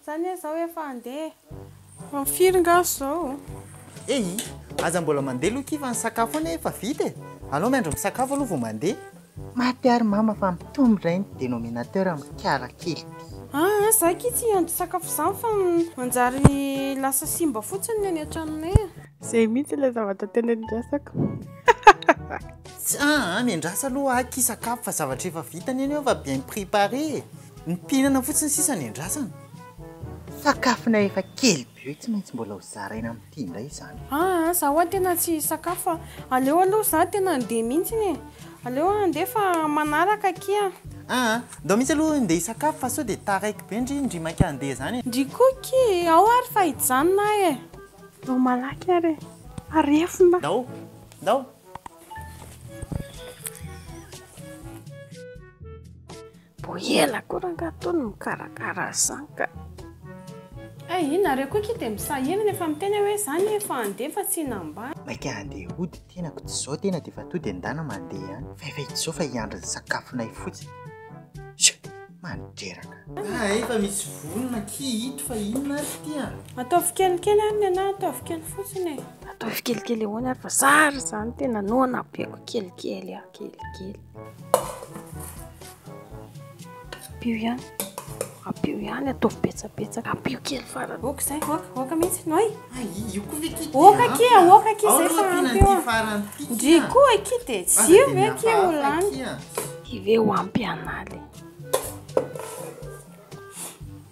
Zany hoe zao efa handeha ho am firy nga zao? Ehi, aza mbola mandeha lo kivy ny sakafo anie efa vita e! Alao miandry misakafo aloha vao mandeha. Maty ary mama fa mitombo indray ny denominateur amin'ny kiala kely ity. Aa za akia tsy hiandry sakafo izany fa manjary lasa simba fotsiny ny any an-tranonay e! Izay mihitsy ilay zavatra tena iandrasako. Tsia a, miandrasa aloha akia sakafo fa zavatra efa vita anie ny hoe efa bien prepare e! Ny mpihinana fotsiny sisa ny andrasana. Sakafona efa kely be io tsy maintsy mbola ho zaraina amin'ity indray izany. Aa za wa tena tsy hisakafo a! Aleo aloha za tena handeha mintsiny e! Aleo handeha fa manaraka akia! Aa ndao mintsy aloha ndeha hisakafo fa sao dia taraiky be ndry ndry mainka handeha izany e! Ndry Koky e! Ao ary fa hijanona aho e! Ndao malaky ary e! Fa refona! Ndao! Ndao! Mbo ela koa rangaha Tony mikarakara zany ka. Hey i nareo koa ki de misahirana efa miteny aho hoe zany efa andeha fa tsy nambany. Maika handeha hody tenako tsy zao tena de efa tody endana mandeha any fa efa izao fa hiandry ny sakafonay fotsiny Sha mandreraka. Ah efa misy vonona ki ito fa inona ary ty a. Ataovy kelikely ary ny anah ataovy kely fotsiny e. Ataovy kelikely ahoana ary fa zary zany tena noana be ko kelikely a kelikely. Ampio ihany. Ampio ihany, ataovy betsabetsaka. Ampio kely farany. Oka izay, oka, oka mihitsy. Noi. Ah, io koa ve kity? Oka ah. kia, oka kia izay fa ampio. Ah. Ndry koa kity e, tsy io ve kia ho lany? Ty ve ho ampy an'aly?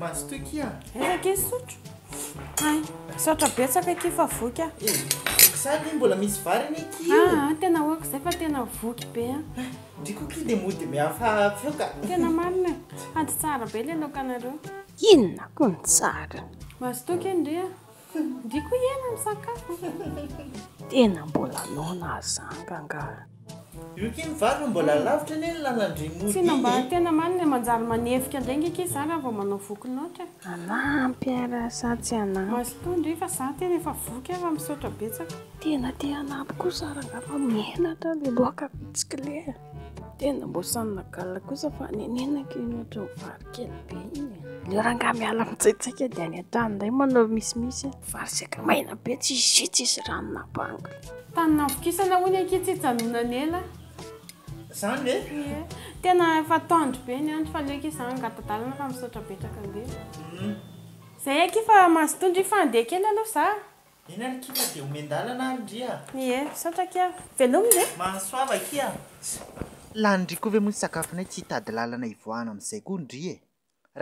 Mazotoa akia a. Aiza akia sotro? Ay, misaotra betsaka akia fa voky a. Eh, voky zany anie mbola misy vary anie akia io. Ah, ah tena hoako izay fa tena voky be a. Ah, ndry koa akia dia mody mihafa feo ka. Tena marina e. Hady tsara be ilay laokanareo. Inona koa ny tsarany? Mazotoa akia ndry a. Ndry ko iena misakafo. Tena mbola noana zanga angaha. Io kay ny vary fa mbola alavitra anie ny lalandry mody iny e. Tena mba tena marina e, manjary manevika indray nge kay za raha vao manao voky loatra e. Manampy ara sa tsy hanampy. Mazotoa ndry fa za tena efa voky ara misaotra betsaka. Tena te hanampy kosa ara angaha fa menatra le loaka bitsiklé. Tena mbô samy nagala kosa fa nenenako iny ohatra ny vary kely be iny. Ilay rangahy miala mitsaitsaika dia any an-trano indray manao misimisy. Vary saika maina be tsisy jus tsisy rano na bango. Tany navokisana hono akia tsy hijanonana ela. Zany ve? Ie. Tena efa tendre be ny andro fa aleo akia zany angatadalana fa misaotra betaka ange. Zay akia fa mazotoa ndry fa andeha kely aloha za. Eny ary kina dia omen-dalana ary ndry a! Ie, misaotra akia! Velomy ve? Mahasoava akia! Lanin-dry koa ve moa ny sakafonay tsy hitady lalana hivoahana amin'izay koa ndry e!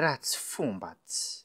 Ratsy fomba tsy.